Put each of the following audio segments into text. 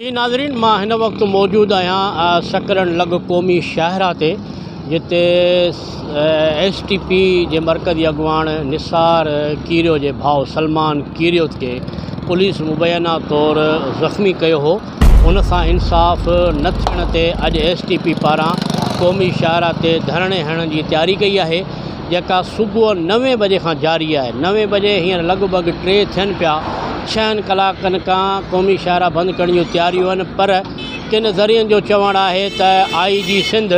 جي ناظرين مان هن وقت موجود آهيان سڪرن لڳ قومي شاهراهه تي جتي ايس ٽي پي جي مرڪزي اڳواڻ نثار ڪيريو جي ڀاء سلمان ڪيريو کي پوليس مبينا طور زخمي ڪيو هو ان سان انصاف نه ٿيڻ تي اڄ ايس ٽي پي پاران قومي شاهراهه تي ڌرڻي هڻڻ جي تياري ڪئي آهي جيڪا صبح نوين بجي کان جاري آهي نوين بجي هينئر لڳ ڀڳ ٽي ٿين پيا ڇهن ڪلاڪن کان قومي شاهراهه بند ڪرڻ جون تياريون آهن پر ڪن ذريعن جو چوڻ آهي ته آء جي سنڌ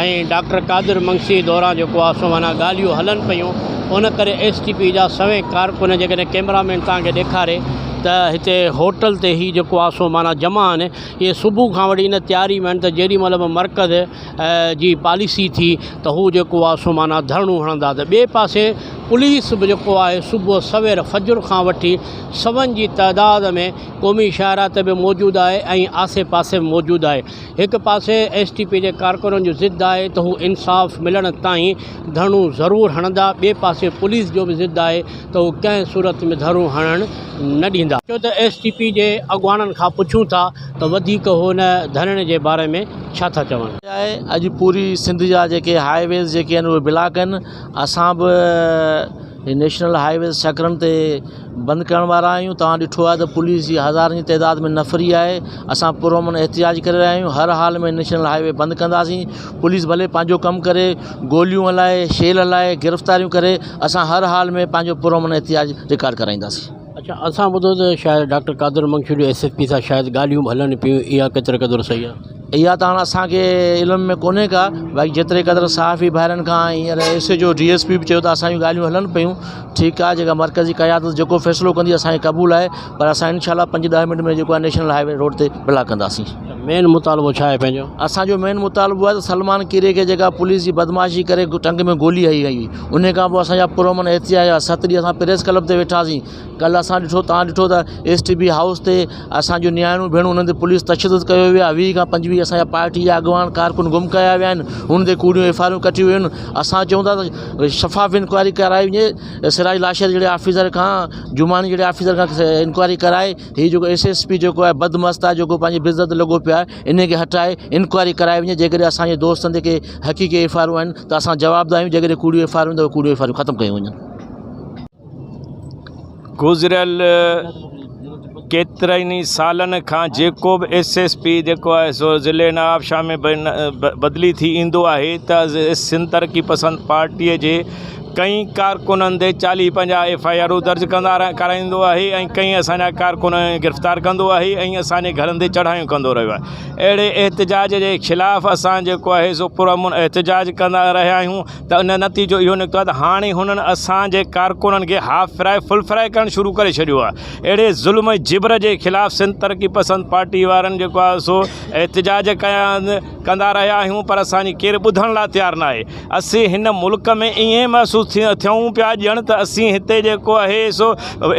۽ ڊاڪٽر قادر منگسي دوران جيڪو آ سو معنيٰ ڳالهيون هلن پيون ان ڪري ايس ٽي پي جا سوين ڪارڪن جيڪڏهن ڪيمرا مين توهان کي ڏيکاري ته هتي هوٽل تي هي جيڪو آ سو معنيٰ جمع آهن اهي صبح کان وٺي ان تياري ۾ آهن ته جيڏي مهل به مرڪز جي پاليسي ٿي ته هو جيڪو آ سو معنيٰ ڌرڻو هڻندا ته ٻئي پاسي پوليس به جيڪو آهي صبح سوير فجر کان وٺي سون جي تعداد ۾ قومي شاهراهه تي به موجود آهي ۽ آسي پاسي به موجود آهي هڪ پاسي ايس ٽي پي جي ڪارڪنن جو ضد آهي ته هو انصاف ملڻ تائين ڌرڻو ضرور هڻندا، ٻئي پاسي پوليس جو به ضد آهي ته هو ڪنهن صورت ۾ ڌرڻو هڻڻ نه ڏيندا. اچو ته ايس ٽي پي جي اڳواڻن کان پڇون ٿا ته وڌيڪ هو ان ڌرڻي جي باري ۾ ڇا ٿا چون. اڄ پوري سنڌ جا جيڪي هاء ويز جيڪي آهن اهي بلاڪ آهن اسان به نيشنل هاء ويز سڪرنڊ تي بند ڪرڻ وارا آهيون توهان ڏٺو آهي ته پوليس جي هزارن جي تعداد ۾ نفري آهي اسان پرامن احتجاج ڪري رهيا آهيون هر حال ۾ نيشنل هاء وي بند ڪنداسين پوليس ڀلي پنهنجو ڪم ڪري گوليون هلائي شيل هلائي گرفتاريون ڪري اسان هر حال ۾ پنهنجو پرامن احتجاج رڪارڊ ڪرائينداسين. اڇا اسان ٻڌو ته شايد ڊاڪٽر قادر منگشو جو ايس ايس پي سان شايد ڳالهيون به هلن پيون اها ڪيتري قدر صحيح آهي؟ اها ته هاڻ اسان کي علم ۾ ڪونهي ڪا بائڪ جيتري قدر صحافي ڀائرن کان هينئر S H O D S P به چيو ته اسان جون ڳالهيون هلن پيون ٺيڪ آهي جيڪا مرڪزي قيادت جيڪو فيصلو ڪندي اسان کي قبول آهي پر اسان انشاء الله پنج ڏهه منٽ ۾ جيڪو آهي نيشنل هاء وي روڊ تي بلاڪ ڪنداسين مين مطالبو ڇا آهي پنهنجو اسان جو مين مطالبو آهي ته سلمان ڪيري کي جيڪا پوليس جي بدمعاشي ڪري ٽنگ ۾ گولي هنئي وئي هئي ان کان پوء اسان جا پرامن احتجاج ست ڏينهن اسان پريس ڪلب تي ويٺاسين ڪلهه اسان ڏٺو تان ڏٺو ته ايس ٽي بي هائوس تي اسانجو نياڻيون ڀيڻون انهن تي پوليس تشدد ڪيو ويو آهي ويهه کان پنجويهه اسانجا پارٽي جا اڳواڻ ڪارڪن گم ڪيا ويا آهن انهن تي ڪوڙيون ايف آر آيون ڪٽيون ويون آهن اسان چون ٿا ته شفاف انڪوائري ڪرائي وڃي سراج لاشري جهڙي آفيسر کان جماڻي جهڙي آفيسر کان انڪوائري ڪرائي هي جيڪو ايس ايس پي جيڪو آهي بد مست آهي جيڪو پنهنجي بس داد لڳو پيو آهي انهي کي هٽائي انڪوائري ڪرائي وڃي جي ڪڏهن اسانجي دوستن تي ڪي حقيقي ايف آر آيون آهن ته اسان جوابدار آهيون جي ڪڏهن ڪوڙيون ايف آر آيون آهن ته ڪوڙيون ايف آر آيون ختم ڪيون وڃن گذريل ڪيترن ئي سالن کان جيڪو به ايس ايس پي جيڪو آهي سو ضلعي نوابشاهه ۾ بدلي ٿي ايندو آهي ته سنڌ ترقي پسند پارٽيء جي ڪئين ڪارڪنن تي چاليهه پنجاهه ايف آئي آرون درج ڪندا ڪرائيندو آهي ۽ ڪئين اسان جا ڪارڪن گرفتار ڪندو آهي ۽ اسان جي گهرن تي چڙهايون ڪندو رهيو آهي اهڙي احتجاج جي خلاف اسان جيڪو آهي سو پرامن احتجاج ڪندا رهيا آهيون ته ان جو نتيجو اهو نڪتو آهي ته هاڻي هنن اسان جي ڪارڪنن کي هاف فرائي فل فرائي ڪرڻ شروع ڪري ڇڏيو آهي اهڙي ظلم ۽ جبر جي خلاف سنڌ ترقي پسند پارٽي وارن جيڪو آهي سو احتجاج ڪيا ڪندا رهيا آهيون پر اسان جي ڪير ٻڌڻ لاء تيار ناهي اسين هن ملڪ ۾ ائين محسوس ٿيون پيا ڄڻ ته اسين هتي جيڪو آهي سو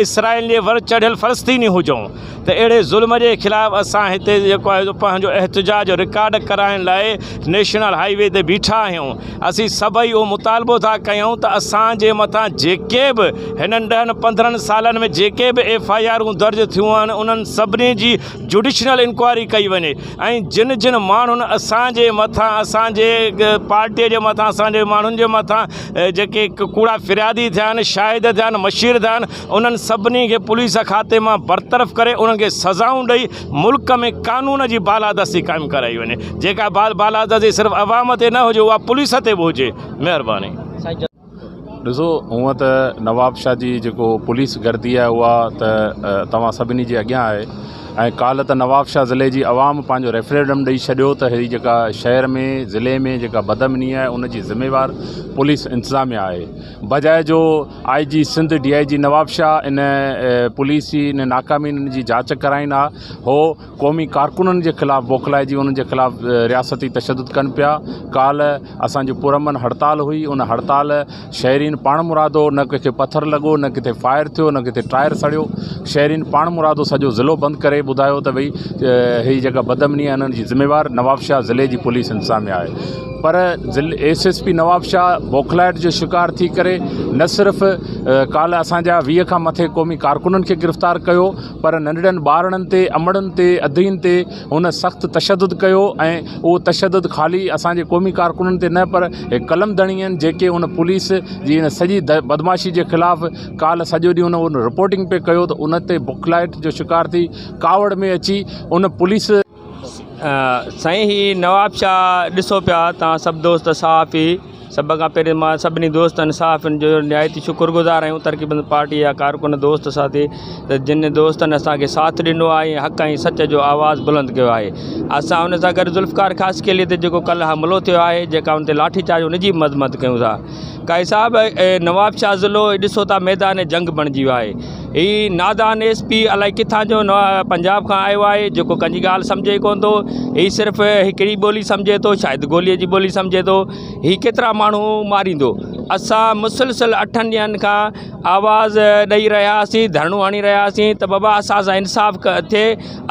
اسرائيل جي ور چڙهيل فلسطيني هجون ته اهڙي ظلم جي خلاف اسان هتي جيڪو آهي سو پنهنجو احتجاج رڪارڊ ڪرائڻ لاء نيشنل هائي وي تي بيٺا آهيون اسين سڀئي اهو مطالبو ٿا ڪيون ته اسان جي مٿان جيڪي به هنن ڏهن پندرهن سالن ۾ جيڪي به ايف آئي آرون درج ٿيون آهن انهن سڀني جي جوڊيشنل انڪوائري ڪئي وڃي ۽ جن جن ماڻهن اسان جي مٿان اسان جي پارٽي جي مٿان اسان جي ماڻهن جي مٿان جيڪي ڪوڙا فريادي ٿيا آهن شاهد ٿيا آهن مشير ٿيا آهن انهن سڀني کي پوليس احاطي مان برطرف ڪري انهن کي سزائون ڏئي ملڪ ۾ قانون جي بالادستي قائم ڪرائي وڃي جيڪا بالادستي صرف عوام تي نه هجي اها پوليس تي به هجي مهرباني. ڏسو هونئن ته نوابشاهه جي جيڪو پوليس گردي آهي اها ته توهان سڀني جي اڳيان آهي ۽ ڪالهه ته نوابشاهه ضلعي جي عوام پنهنجو ريفريڊم ڏئي ڇڏيو ته هي جيڪا شهر ۾ ضلعي ۾ جيڪا بدامني آهي ان جي ذميوار پوليس انتظاميا آهي بجاء جو I G Sindh D I G Nawabshah ان پوليس جي ان ناڪامين جي جاچ ڪرائين ها هو قومي ڪارڪنن جي خلاف بوکلائجي انهن جي خلاف رياستي تشدد ڪن پيا ڪالهه اسان جو پرامن هڙتال هئي ان هڙتال شهرين پاڻ مرادو نه ڪنهن کي پٿر لڳو نه ڪٿي فائر ٿيو نه ڪٿي ٽائر سڙيو شهرين پاڻ مرادو سڄو ضلعو بند ڪري ٻڌايو ته ڀئي هي جيڪا بدامني آهي انهن جي ذميوار نوابشاهه ضلعي جي پوليس انتظاميه آهي پر ضلع ايس ايس پي نوابشاهه بوکلائيٽ جو شڪار ٿي ڪري نه صرف ڪالهه اسان جا ويهه کان مٿي قومي ڪارڪنن کي گرفتار ڪيو پر ننڍڙن ٻارڙن تي امڙن تي ادين تي هن سخت تشدد ڪيو ۽ اهو تشدد خالي اسان جي قومي ڪارڪنن تي نه پر قلم ڌڻين جيڪي ان پوليس جي ان سڄي بدمعاشي جي خلاف ڪالهه سڄو ڏينهن هن رپورٽنگ پي ڪيو ته ان تي بوکلائيٽ جو شڪار ٿي ڪاوڙ ۾ اچي ان پوليس سائين هي نواب شاهه ڏسو پيا توهان سڀ دوست صحافي سڀ کان پهرين مان سڀني دوستن صحافين جو نهايت شڪر گذار آهيون ترقي پسند پارٽي جا ڪارڪن دوست ساٿي ته جن دوستن اسانکي ساٿ ڏنو آهي ۽ حق ۽ سچ جو آواز بلند ڪيو آهي اسان ان سان گڏ ذوالفقار خاصخيلي تي جيڪو ڪلهه حملو ٿيو آهي جيڪا ان تي لاٺي چارج ان جي به مذمت ڪيون ٿا قائد صاحب نواب شاهه ضلعو ڏسو ٿا ميدان جنگ بڻجي ويو آهي هي نادان ايس پي الائي ڪٿان جو پنجاب کان آيو آهي جيڪو ڪنهن جي ڳالهه سمجهي ڪونه ٿو هي صرف هڪڙي ٻولي سمجهي ٿو شايد گولي جي ٻولي سمجهي ٿو هي ڪيترا ماڻهو ماريندو اسان مسلسل اٺن ڏينهن کان آواز ڏئي رهياسين ڌرڻو هڻي رهياسين ته بابا اسان سان انصاف ڪر ٿئي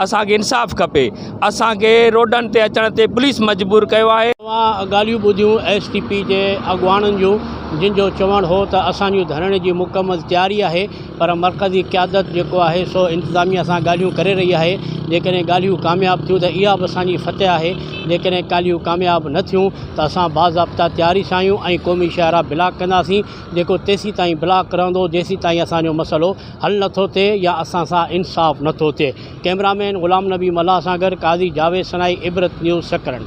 اسان کي انصاف کپي اسان کي روڊن تي اچڻ تي پوليس مجبور ڪيو آهي. اوهان ڳالهيون ٻڌيون ايس ٽي پي جي اڳواڻن جون جن جو چوڻ هو ته اسان جي ڌرڻي جي مڪمل تياري آهي پر مرڪزي قيادت جيڪو آهي سو انتظاميا سان ڳالهيون ڪري رهي آهي جيڪڏهن ڳالهيون ڪامياب ٿيون ته اها به اسان جي فتح آهي جيڪڏهن ڪالهيون ڪامياب نه ٿيون ته اسان باضابطا تياري سان آهيون ۽ قومي شاهراهه بلاڪ ڪنداسين جيڪو تيسيتائين بلاڪ رهندو جيسيتائين اسان جو مسئلو حل نٿو ٿئي يا اسان سان انصاف نٿو ٿئي ڪيمرا مين غلام نبي ملاح سان گڏ قاضي جاويد سنائي عبرت نيوز سڪرنڊ.